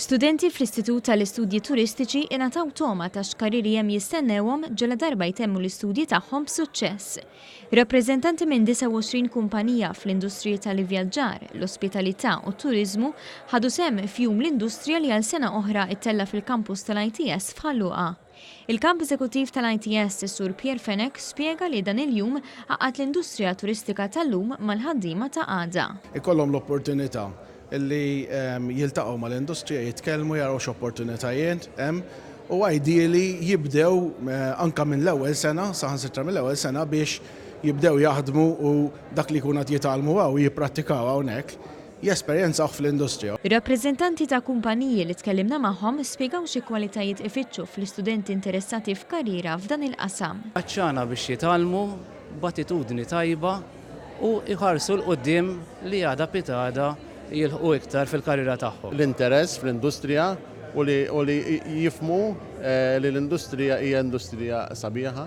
Studenti fl-Istitut tal-Istudji Turistiċi ingħataw togħma ta' x'karrieri hemm jistennewhom ġela darba jtemmu l-istudji tagħhom b'suċċess. Rappreżentanti minn 29 kumpanija fl-industriji tal-ivvjaġġar, l-ospitalità u t-turiżmu ħadu sehem f'Jum l-Industrija li għal sena oħra ttella' fil-kampus tal-ITS f'Ħal Luqa. Il-Kap Eżekuttiv tal-ITS, is-Sur Pierre Fenech, spjega li dan il-jum għaqqad l-industrija turistika tal-lum mal-ħaddiema ta' għada. Ikollhom l-opportunità li jiltaqgħu mal-industrija, jitkellmu, jaraw x'opportunitajiet hemm u ideally jibdew anke mill-ewwel sena, saħansitra mill-ewwel sena biex jibdew jaħdmu u dak li jkun qed jitgħallmu hawn jipprattikaw hawnhekk. jesperjenzawh fl-industrija. Ir-rappreżentanti ta' kumpaniji li tkellimna magħhom spjegaw xi kwalitajiet ifittxu fl-istudenti interessati f'karriera f'dan il-qasam. Għatxana biex jitgħallmu b'attitudni tajba u jħarsu 'l quddiem li għada pitgħada jilħqu iktar fil-karriera tagħhom. L-interess fl-industrija u li jifhmu li l-industrija hija industrija sabiħa.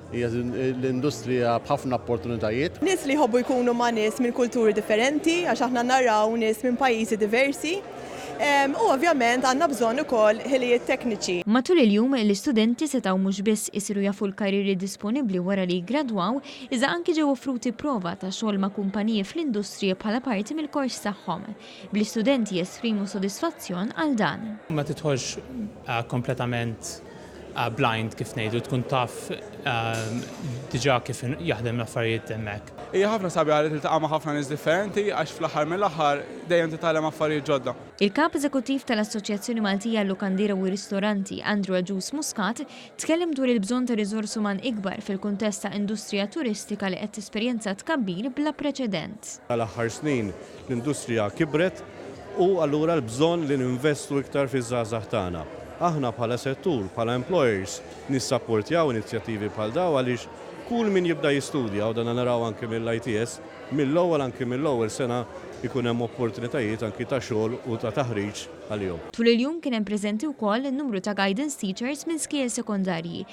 Hija l-industrija b'ħafna opportunitajiet. Nies li jħobbu jkunu ma' nies minn kulturi differenti għax aħna naraw nies minn pajjiżi diversi u ovvjament għandna bżonn ukoll ħilijiet tekniċi. Matul il-jum, l-istudenti setgħu mhux biss isiru jafu l-karrieri disponibbli wara li jiggradwaw, iżda anki ġew offruti prova ta' xogħol ma' kumpaniji fl-industrija bħala parti mill-kors tagħhom, bl-istudenti jesprimu sodisfazzjon għal dan. Ma tidħolx kompletament blind kif ngħidu tkun taf diġà kif jaħdem l-affarijiet hemmhekk. Hija ħafna sabiħa li tiltaqa' ma' ħafna nies differenti għax fl-aħħar mill-aħħar dejjem titgħallem affarijiet ġodda. Il-Kap Eżekuttiv tal-Assoċjazzjoni Maltija għal-Lukandira u r-Ristoranti, Andrew Agius Muscat, tkellem dwar il-bżonn ta' riżors uman ikbar fil-kuntest ta' industrija turistika li qed tesperjenza tkabbir bla preċedent. Tal-aħħar snin, L-industrija kibret u allura l-bżonn li ninvestu iktar fiż-żgħażagħ tagħna. Aħna bħala settur, bħala employers, nissapportjaw inizjattivi bħal dawn għaliex kull min jibda jistudja, u dan naraw anki mill-ITS, mill-ewwel anki mill-ewwel sena jkun hemm opportunitajiet anki ta' xogħol u ta' taħriġ għalihom. Tul il-jum kien hemm preżenti wkoll numru ta' guidance teachers minn skiel sekondarji